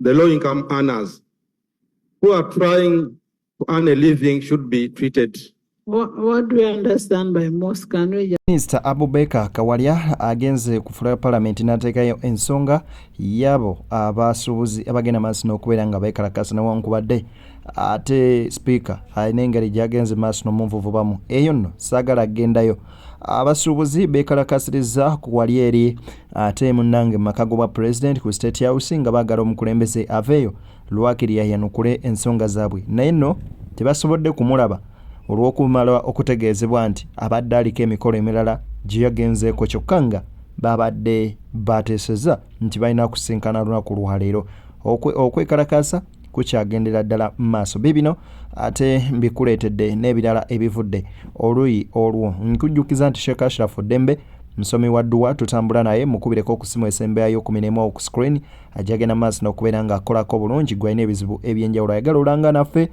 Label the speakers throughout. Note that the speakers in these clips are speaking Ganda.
Speaker 1: the low income earners who are trying to earn a living should be treated What, what
Speaker 2: do we understand by most? Can we just... Mr. Abubeka
Speaker 3: Kawalya agenze ku floor ya parliament n'ateekayo ensonga yabo abasuubuzi abagenda maaso n'okubeera nga beekalakaasa newankubadde ate speaker alina engeri gy'agenze maaso n'omunvuvubamu eyo nno saagala agendayo uh, abasuubuzi beekalakaasirizza ku wali eri ate munnange mu maka gobwa pulezidenti ku state house nga baagala omukulembeze aveeyo lwakiri yayanukule ensonga zaabwe naye nno tebasobodde kumulaba olw'okumala okutegeezebwa nti abadde aliko emikolo emirala gye yagenzeeko kyokka nga baabadde baateeseza nti balina kusinkana lunaku lwaleero okwekalakaasa kukyagendera ddala mu maaso biibino ate mbikuleetedde n'ebirala ebivudde oluyi olwo nkujjukiza nti sheekh ashirafu ddembe musomi wa dduwa tutambula naye mukubireko okusimu esembeyayo ku mirimu oku screen ajagenda mu maaso n'okubeera ng'akolako bulungi gwalina ebizibu ebyenjawulo ayagala olanga naffe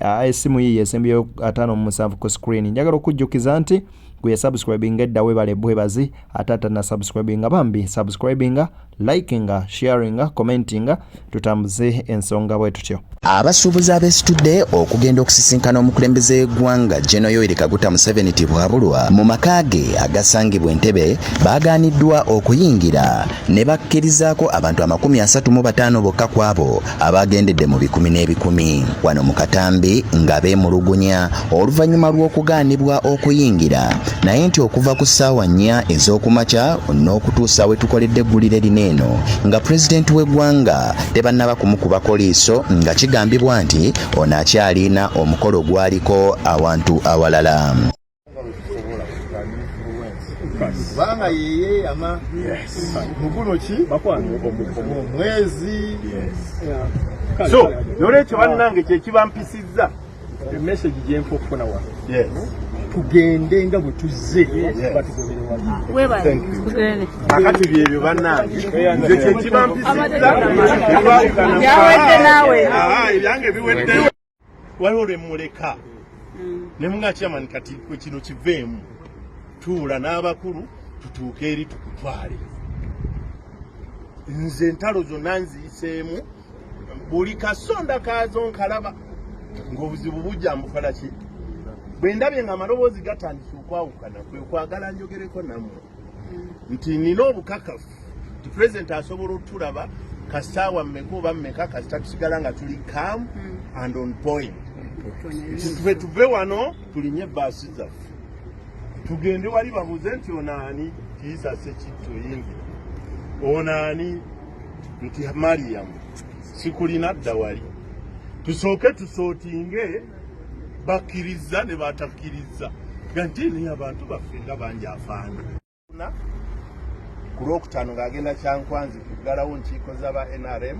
Speaker 3: ah, esimu yiyo esembeyayo ataano mu musanvu ku screen njagala okujjukiza nti gwe yasubscribinga edda webale bwebazi ate atanasubscribinga bambi subscribinga likinga sharinga commentinga tutambuze ensonga bwe tutyo abasuubuzi
Speaker 4: abesitudde okugenda okusisinkana omukulembeze w'eggwanga geno yoeri kaguta museveni tibwabulwa mu maka ge agasangibwa entebe baagaaniddwa okuyingira ne bakkirizaako abantu amakumi asatu mu bataano bokka kwabo abaagendedde mu bikumi n'ebikumi wano mu katambi nga beemulugunya oluvannyuma lw'okugaanibwa okuyingira naye nti okuva ku ssaawa nnya ez'okumakya n'okutuusa we tukoledde eggulire lino eno nga pulezidenti w'eggwanga tebannaba kumukubako liiso nga kigambibwa nti ono akyaliina omukolo gwaliko awantu awalala
Speaker 5: kubanga yeyeyama muguno ki omwezi so nolwekyo bannange kyekibampisiza emesegi gyenfa okufuna wa tugende nga bwe tuzze kakati byebyo banange nze kyekibampisiza ebyange biweddeyo waliwo lwemuleka mm. nemunga chairman kati kino kiveemu tuula n'abakulu tutuuke eri tukutwale nze entalo zonna nziyiseemu buli kasonda kaazo nkalaba ng'obuzibu bujja mbukola ki bwe ndabye nga amaloboozi gatandise okwawukana kwe kwagala njogereko nammwe nti nina obukakafu nti president asobola otulaba kasaawa mmeka oba mmeka kasita tusigala nga tuli calm hmm. and on point nti tuve tuve wano tulinye ebaasi zaffe tugende wali babuze nti onaani kiisa sekitto yingira onaani nti mariyamu sikulina dda wali tusooke tusootinge bakkirizza ne batakkirizza gante naye abantu baffe nga bangi afaana ku lwokutaano ng'agenda kyankwanzi kuggalawo nkiiko z'aba nrm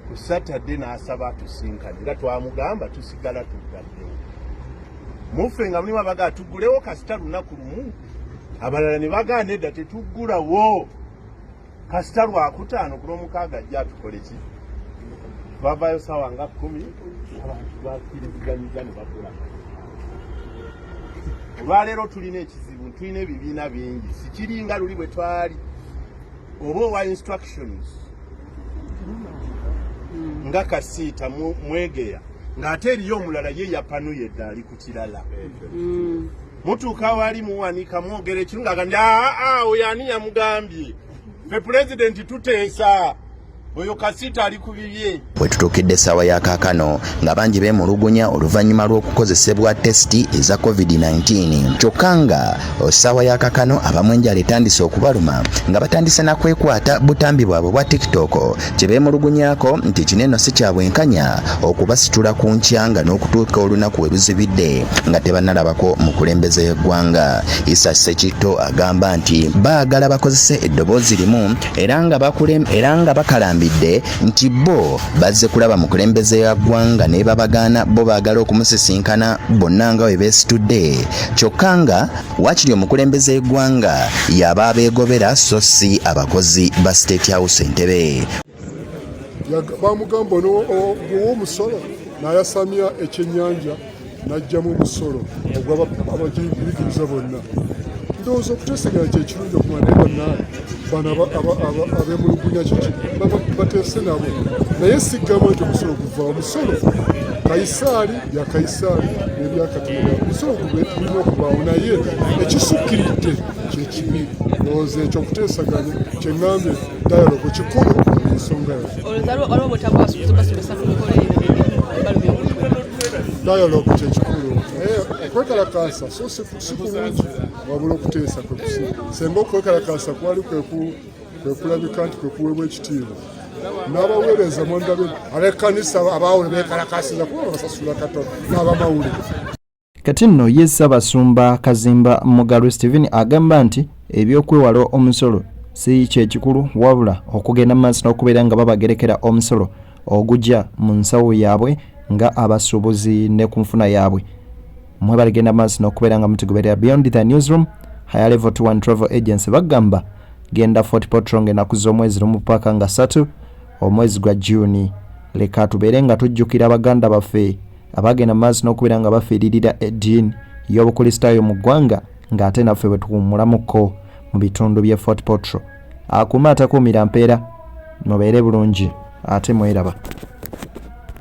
Speaker 5: ku satadde n'asaba atusinkane era twamugamba tusigala tuggaddewo muffe nga mulimu abaga atuggulewo kasita lunaku lumu abalala ne bagaana edda tetuggulawo kasita lwakutaano ku lwomukaaga ajja atukole ki bavayo sawa nga kumi abantu bakiriziganyiza ne bakula olwaleero tulina ekizibu tulina ebibiina bingi sikiringa luli bwe twali oba owa instructions nga kasiita mwegeya ng'ate eriyo omulala ye yapanuye dda ali ku kirala mm. mutuuka wali muwanika mwogera ekiru nga gambye aa ah, ah, oyo ani yamugambye fe pulezidenti tuteesa oyo kasiita ali ku bibye bwe tutuukidde essaawa
Speaker 4: ya kaakano nga bangi beemulugunya oluvannyuma lw'okukozesebwa tesiti eza covid-19 kyokka nga essaawa ya kaakano abamu enjala etandise okubaluma nga batandise na kwekwata butambi bwabwe bwa tiktok kye beemulugunyako nti kino eno si kya bwenkanya okubasitula ku nkyanga n'okutuuka olunaku we luzibidde nga tebanalabako mukulembeze y'eggwanga isa sekitto agamba nti baagala bakozese eddoboozi limu era nga bakulem era nga bakalambidde nti bo bazze kulaba mukulembeze ya ggwanga ne babagaana bo baagala okumusisinkana bonna nga we beesitudde kyokka nga Wakiri omukulembeze w'eggwanga yaba abeegobera so si abakozi ba State House Entebbe. Bamugamba
Speaker 6: ow'omusolo n'ayasamya ekyennyanja n'aggyamu omusolo ogw'abagiyigiriza bonna. Ndowooza okuteeseganya kye kirungi okumala naye bannaabe bano abeemulugunya kiki bateese nabo naye sigamba nti omusolo guvaawo musolo kayisaali bya kayisaali n'ebya katonda bisobola okubirina okubaawo naye ekisukkiridde kyekibi lowooza ekyo okuteesaganya kyeŋambye dialogo kikulu ensonga yo dialogo kyekikulu naye okwekalakaasa so si kulungi wabula okuteesa kwekusi senga okwekalakaasa kwali kweku kwe kulabika nti kwe kuweebwa ekitiibwa n'abaweereza mwandabe ab'ekkanisa abaawule beekalakasiza kuba basasula katono n'abamawulire kati
Speaker 3: nno ye ssaabasumba kazimba mugalu stephen agamba nti ebyokwewala omusolo si kyekikulu wabula okugenda mu maaso n'okubeera nga babagerekera omusolo ogugya mu nsawo yaabwe nga abasuubuzi ne ku nfuna yaabwe mwebale genda maaso n'okubeera nga mutugoberera beyond the newsroom higher level 21 travel agency bagamba genda fort potro ng'enaku z'omwezi lumu paaka nga satu omwezi gwa juni leka tubeere nga tujjukira baganda baffe abagenda maaso n'okubeera nga bafiiririra eddiini y'obukulisitaayo mu ggwanga ng'ate naffe bwe tuwummulamuko mu bitundu bye fort potro akuuma atakuumira mpeera mubeere bulungi ate mweraba